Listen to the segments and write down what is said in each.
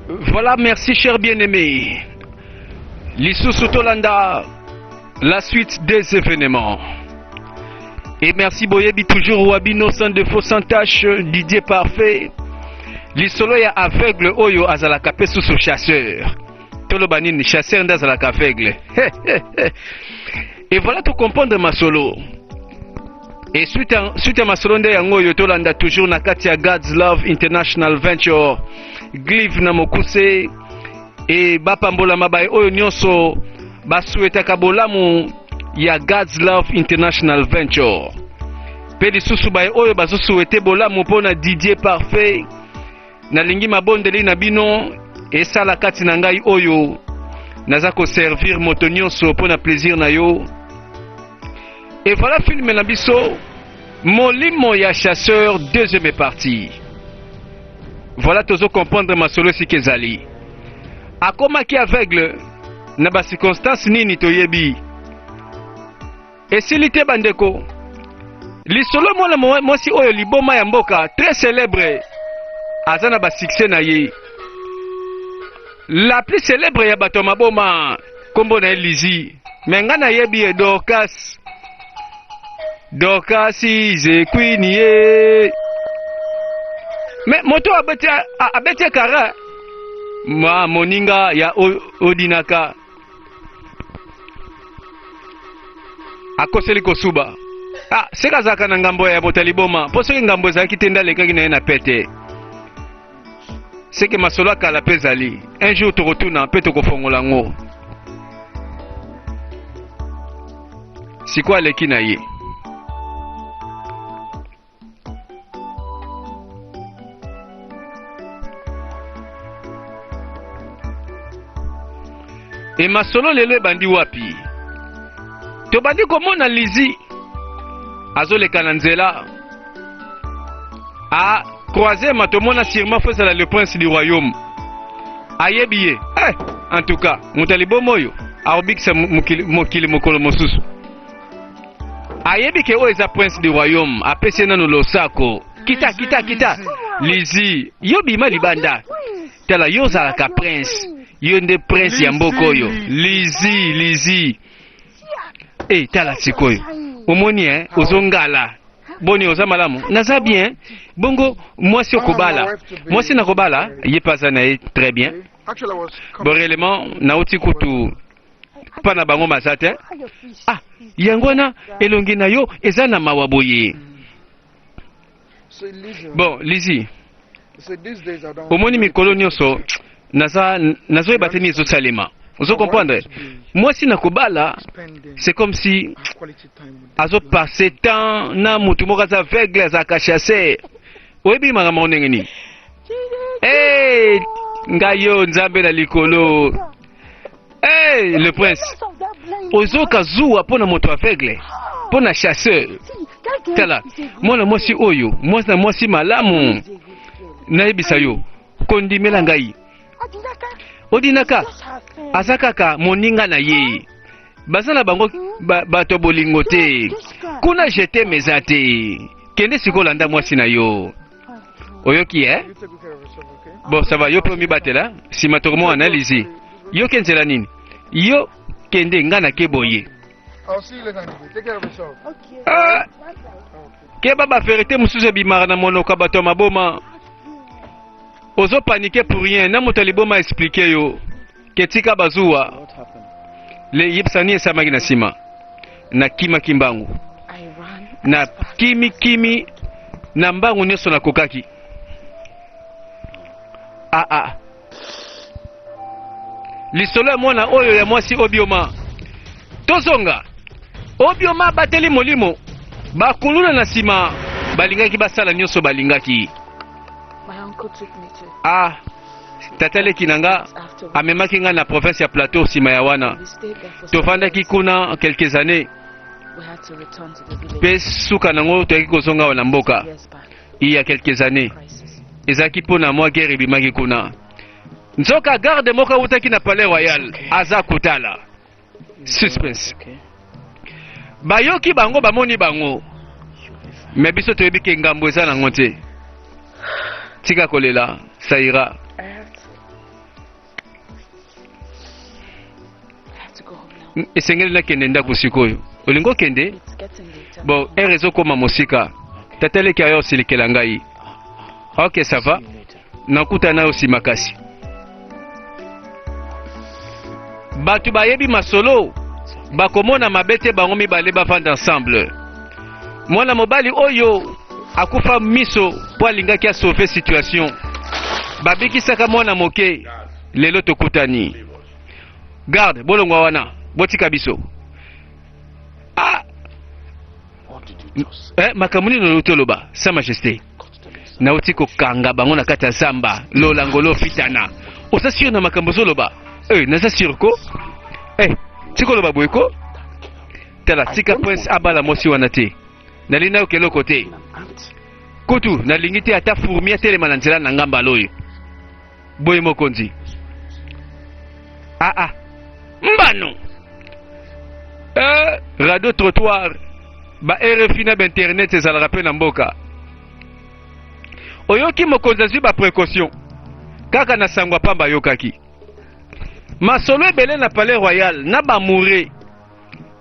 Voilà, merci cher bien-aimé. L'Issousou Tolanda, la suite des événements. Et merci Boyebi toujours Wabino sans défaut sans tâche Didier parfait lisolo ya aveugle oyo azalaka mpe susu chasseur toloba nini chasseur nde azalaka aveugle et voilà to comprendre masolo Et suite à, suite à masolo nde yango oyo tolanda toujours na kati ya God's Love International Venture Glive na mokuse e bapambolama baye oyo nyonso basuetaka bolamu ya God's Love International Venture mpe lisusu baye oyo bazosuete bolamu mpo na Didier Parfait Nalingi mabondeli na bino esala kati na ngai oyo naza ko servir moto nyonso mpo na plaisir na yo. Et voilà film na biso Molimo ya chasseur deuxième partie. Voilà tozo comprendre masolo esika ezali. Akomaki aveugle na ba circonstances nini toyebi. Esili te bandeko. Lisolo mwana mwasi oyo liboma ya mboka très célèbre aza na ba succès na ye. La plus célèbre ya bato ya maboma kombo na ye Lizi. Mais nga nayebi ye Dorcas. Dorcas ize queen ye. Mais moto abeti abeti kara ma moninga ya odinaka akoseli kosuba ah, seka azalaka na ngambo ya bota liboma mpo soki ngambo ezalaki te nde alekaki na ye na pete seke masolo ya kala mpe ezali un jour tokotuna mpe tokofongola yango sikoyo aleki na ye e masolo lelo ebandi wapi tobandi komona lizi azoleka na nzela a croise ma tomona sûrement fo ezala le prince du royaume ayebi ye eh, en tout cas moto ya liboma oyo akobikisa mokili mokolo mosusu ayebi ke oyo eza prince du royaume apesi ye nano losako kita kita kita lizi yo bima libanda tala yo ozalaka prince yo nde prince ya mboka oyo lizi lizi e eh, tala sikoyo omoni e ozongala boni oza malamu naza bien bongo mwasi okobala mwasi nakobala ye mpe aza na ye très bien boreellement nauti kutu pa na bango maza te ah yango wana elongi na yo eza na mawa boye bon lizi omoni mikolo nyonso naza nazoyeba te nini ezosalema ozo comprendre mwasi na kobala c'est comme si azo passe temps na motu moko aza aveugle azalaka chasse oyebi makambo yango ndenge nini hey, ngai yo nzambe na likolo Hey, le prince ozoka zuwa mpo na moto aveugle mpo na chasseur tala mwana mwasi oyo mwasi na mwasi malamu nayebisa yo kondimela ngai odinaka aza kaka moninga na ye baza na bango ba, bato bolingo te kuna jeteme eza te kende sikoyo landa mwasi na yo oyoki eh? bon ça va yo mpe omibatela nsima tokomona na lizi yo ke nzela nini yo kende ngai nake boye ah, keba baverité mosusu ebimaka na monoko ya bato ya maboma ozopanike pour rien na moto ya liboma explike yo Ke tika bazuwa. Le yebisa nini esalamaki na sima. Na kima kimbangu. Na kimi kimi na mbangu nyoso na kokaki. Ah ah. Lisolo ya mwana oyo ya mwasi obioma. Tozonga. Obioma bateli molimo. Bakuluna na sima balingaki basala nyoso balingaki. Ah. Tata leki na nga amemaki nga na province ya Plateau nsima ya wana. Tofandaki kuna quelques années. Mpe suka nango toyaki kozonga awa na mboka. Il y a quelques années. Ezalaki mpo na mwa guerre ebimaki kuna. Nzoka garde moko awutaki na Palais Royal aza kotala. suspense bayoki bango bamoni bango me biso toyebi ke ngambo eza nango te tika kolela saira esengeli nakende ndako sikoyo olingi okende bon ere ezokoma mosika tata eleki ayo osilikela ngai ok sava Nakutana nayo si makasi. Bato bayebi masolo bakomona mabe te bango mibale bavanda ensemble. Mwana mobali oyo akufa miso mpo alingaki asauve situation. Babikisaka mwana moke, lelo tokutani. Garde, bolongwa wana, botika biso. Ah! Eh, makambo nini olobi toloba, Sa Majesté? Nauti kokanga bango na kati ya zamba. Lola ngolo fitana. Oza sur na makambo ozoloba? Eh, naza sur ko. Eh, tikoloba boye ko. Tala, tika prince abala mwasi wana te. Nalingi nayoka eloko te. Kutu, nalingi te ata fourmi atelema na nzela na nga mbala oyo. Boye mokonzi. Ah ah. Mbano. Euh, radio trottoir ba RFI na ba internet ezalaka pe na mboka. Oyoki mokonzi azwi ba précaution. Kaka na sangwa pamba ayokaki. Masolo ebele na Palais Royal na ba mourre.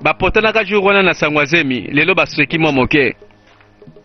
Bapotanaka jour wana na sangwa zemi, lelo baseki mwa moke.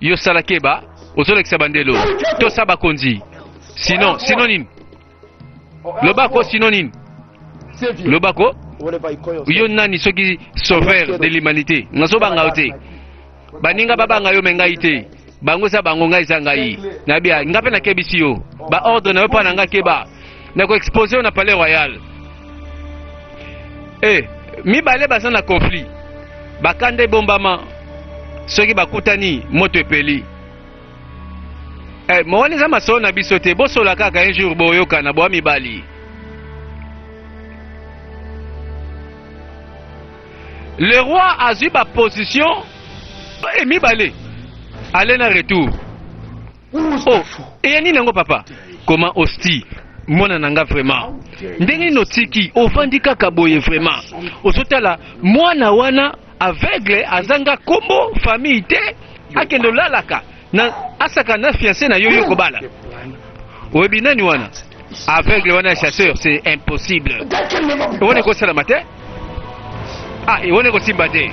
yo sala keba ozolekisa bandelo tosa bakonzi sinon sinon nini lobako sinon nini lobako yo nani soki sauveur de l'humanité nazobanga yo te baninga babanga yo me ngai te bango eza bango ngai eza ngai nayebi ngai mpe nakebisi yo baordre na yo mpo na ngai keba na ko expose yo na palais royal eh mibale baza na conflit bakanda ebombama soki bakutani moto epeli eh, mowani eza masolo na biso te bosola kaka un jour boyokana boa mibali le roi azwi baposition eh, mibale ale na retour Oh, eya nini yango papa? Koma osti mwana na nga vraiment ndenge nini otiki ovandi kaka boye vraiment ozotala mwana wana aveugle azanga kombo famille te akende olalaka na asaka na fiance na yo yo kobala oyebi nani wana Aveugle wana ya chasseur c'est impossible. Wana ekosalama te. Ah, wana ekosimba te.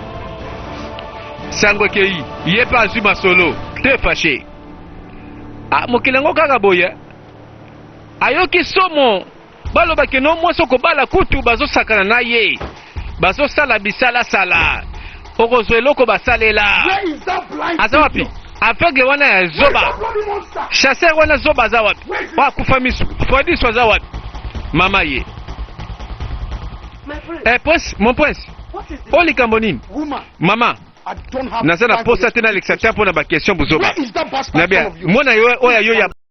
Sango ekei, ye mpe azwi masolo, te fache. Ah, mokili yango kaka boye. Ayoki somo, balobaki no mwasi okobala kutu bazosakana na ye. bazosala bisalasala okozwa eloko basalela aza wapi aveugle wana ya zoba chasseur wana zoba aza wapi akufa misu fodiso aza wapi mama ye eh, prince, mon prince o likambo nini mama naza na posa te nalekisa te mpo na baquestion bozoba nabia mwana yo oyo ayo ya